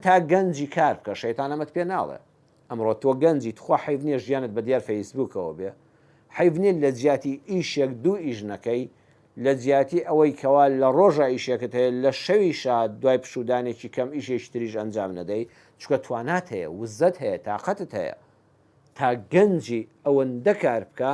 تا گەنجی کار بکە شەیتان ئەمەت پێ ناڵێ ئەمڕۆ تۆ گەنجی تخوا حەیف نیە ژیانت بە دیار فەیسبوکەوە بێ حەیف نیە لە جیاتی ئیشێک دوو ئیش نەکەی لە جیاتی ئەوەی کەوا لە ڕۆژا ئیشێکت هەیە لە شەویشا دوای پشودانێکی کەم ئیشێکی تریش ئەنجام نەدەی چونکە توانات هەیە وزەت هەیە تاقەتت هەیە تا گەنجی ئەوەندە کار بکە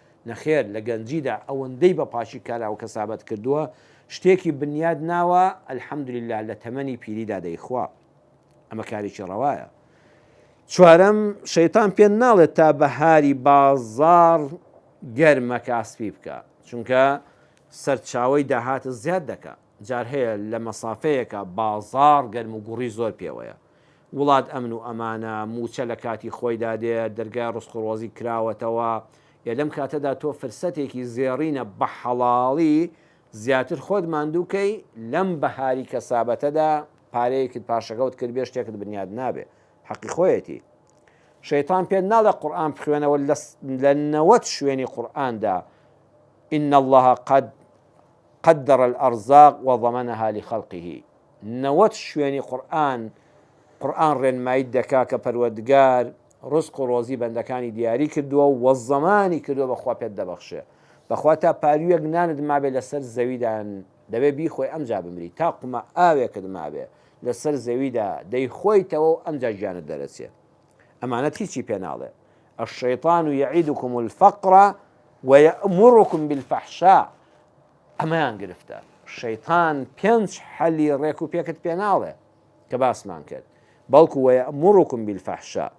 نەخێر لە گەنجیدا ئەوەندەی بە پاکی کاراو کەسابەت کردووە شتێکی بنیاد ناوە الحمدللە لە تەمەنی پیریدا دەی خوا ئەمە کارێکی ڕەوایە. چوارەم، شەیتان پێت ناڵێت تا بەهاری بازاڕ گەرمەکا سپی بکە چونکە سەرچاوەی داهاتت زیاد دەکا جار هەیە لە مەسافەیەکا بازاڕ گەرم و گوڕی زۆر پێوەیە وڵات ئەمن و ئەمانە، مووچە لە کاتی خۆیدا دێت، دەرگای ڕزق و ڕۆزیک کراوەتەوە، ئێ لەم کاتەدا تۆ فرسەتێکی زێڕینە بە حەڵاڵی زیاتر خۆت ماندوو کەی، لەم بەهاری کەسابەتەدا پارەیەکت پاشەکەوت کردبێ شتێکت بنیات نابێ، حەقی خۆیەتی. شەیتان پێت ناڵێ قورئان بخوێنەوە لە نەوەد شوێنی قورئاندا، ان اللە قد. قدر الارزاق وضمنها لخلقه نەوەد شوێنی قورئان قورئان ڕێنماییت دەکا کە پەروەردگار ڕزق و ڕۆزی بەندەکانی دیاری کردووە و زەمانی کردووە بەخوا پێت دەبەخشێ بەخوا تا پارویەک نانت مابێ لەسەر زەویدا دەبێ بیخۆی ئەمجا بمری تا قومە ئاوێکت مابێ لەسەر زەویدا دەیخۆیتەوە و ئەمجا گیانت دەرەچێ ئەمانەت هیچی پێ ناڵێ الشیطان یعیدکم الفقر ویأمرکم بالفحشاء ئەمەیان گرفتە شەیتان پێنج حەلی ڕێک و پێکت پێ ناڵێ کە باسمان کرد بەڵکو ویأمرکم بالفحشاء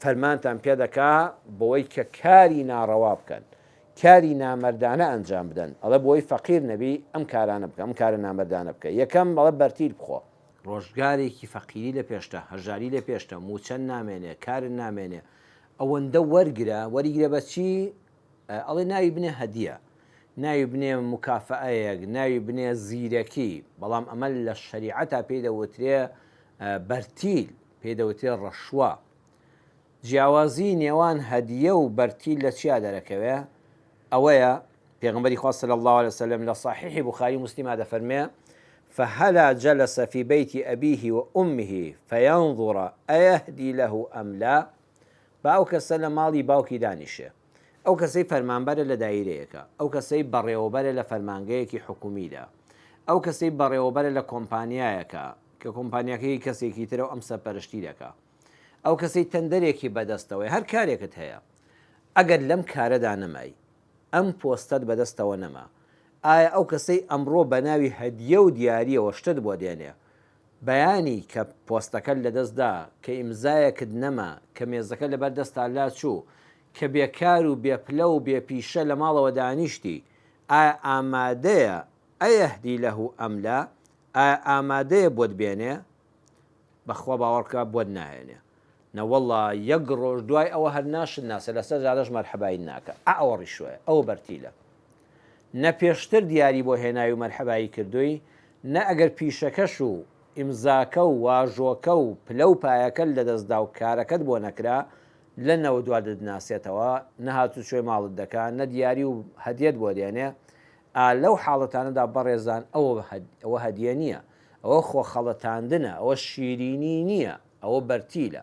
فەرمانتان پێ دەکا بەوەی کە کاری ناڕەوا بکەن کاری نامردانە ئەنجام بدەن ئەڵە بۆی فەقیر نەبی ئەم کارانە بکە ئەم کارە نامردانە بکە یەکەم بەڵە بەرتیل بخۆ ڕۆژگارێکی فەقیری لە پێشتە، هەژاری لە پێشتە، مووچەن نامێنێ، کارن نامێنێ. ئەوەندە وەرگرە، وەریگرە بە چی؟ ئەڵێ ناوی بنێ هەدیە، ناوی بنێ موکافەئەیەک، ناوی بنێ زیرەکی، بەڵام ئەمە لە شەریعەتا پێی دەوترێ بەرتیل، پێی دەوترێ ڕەشوە. جیاوازی نێوان هەدیە و بەرتیل لە چیا دەرەکەوێ؟ ئەوەیە، پێغەمبەری خوا صلی اللە علیە وسلم لە صحیحی بخاری و مسلما دەفەرموێ، فهلا جلس فی بیت ابیه و امه فینظر ایهدی له ام لا، با ئەو کەسە لە ماڵی باوکی دانیشێ، ئەو کەسەی فەرمانبەرە لە دایرەیەکا، ئەو کەسەی بەڕێوەبەرە لە فەرمانگەیەکی حکومیدا، ئەو کەسەی بەڕێوەبەرە لە کۆمپانیایەکا کە کۆمپانیاکە هی کەسێکی ترە و ئەم سەرپەرشتی دەکا. ئەو کەسەی تەندەرێکی بەدەستەوەیە هەر کارێکت هەیە ئەگەر لەم کارەدا نەمای ئەم پۆستەت بەدەستەوە نەما ئایا ئەو کەسەی ئەمڕۆ بەناوی هەدیە و دیاریەوە شتت بۆ دێنێ بەیانی کە پۆستەکەت لەدەستدا کە ئیمزایەکت نەما کە مێزەکە لەبەر دەستا لاچوو کە بێکار و بێپلە و بێ پیشە لە ماڵەوە دانیشتی ئایا ئامادەیە ئەیەهدی لەه ئەم لا ئایا ئامادەیە بۆت بێنێ بەخوا باوەڕکە بۆت ناهێنێ. نەوەڵا یەک ڕۆژ دوای ئەوە هەر ناشت ناسێ لەسەر جادەش مەرحەبایت ناکا ئا ئەوە ڕیشوایە ئەوە بەرتیلە نە پێشتر دیاری بۆ هێناوی و مەرحەبایی کردووی نە ئەگەر پیشەکەش و ئیمزاکە و واژۆکە و پلە و پایەکەت لەدەست دا و کارەکەت بۆ نەکرا لە نەوە دوا دتناسێتەوە نە هاتوچۆی ماڵت دەکا نە دیاری و هەدیەت بۆ دێنێ ئا لەو حاڵەتانەدا بەڕێزان ئەوە هەدیە نیە ئەوە خۆ خەڵەتاندنە، ئەوە شیرینی نییە، ئەوە بەرتیلە،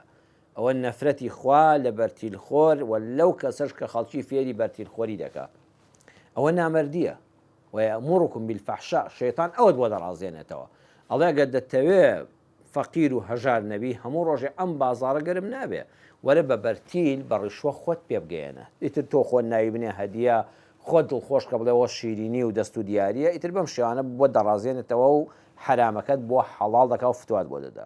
ئەوە نەفرەتی خوا لە بەرتیلخۆر و لەو کەسەش کە خەڵکی فێری بەرتیلخۆری دەکا. ئەوە نامەردییە، ویامرکم بالفحشاء، شەیتان ئەوەت بۆ دەڕازێنێتەوە، ئەڵێ گەر دەتەوێ فەقیر و هەژار نەبی هەموو ڕۆژێ ئەم بازاڕە گەرم نابێ، وەرە بە بەرتیل بە ڕیشوە خۆت پێ بگەیەنە، ئیتر تۆ خۆ نایبنێ هەدیە خۆت دڵخۆش کە بڵێ ئەوە شیرینی و دەست و دیارییە، ئیتر بەم شێوانە بۆت دەڕازێنێتەوە و حەرامەکەت بۆ حەڵاڵ دەکا و فتوات بۆ دەدا.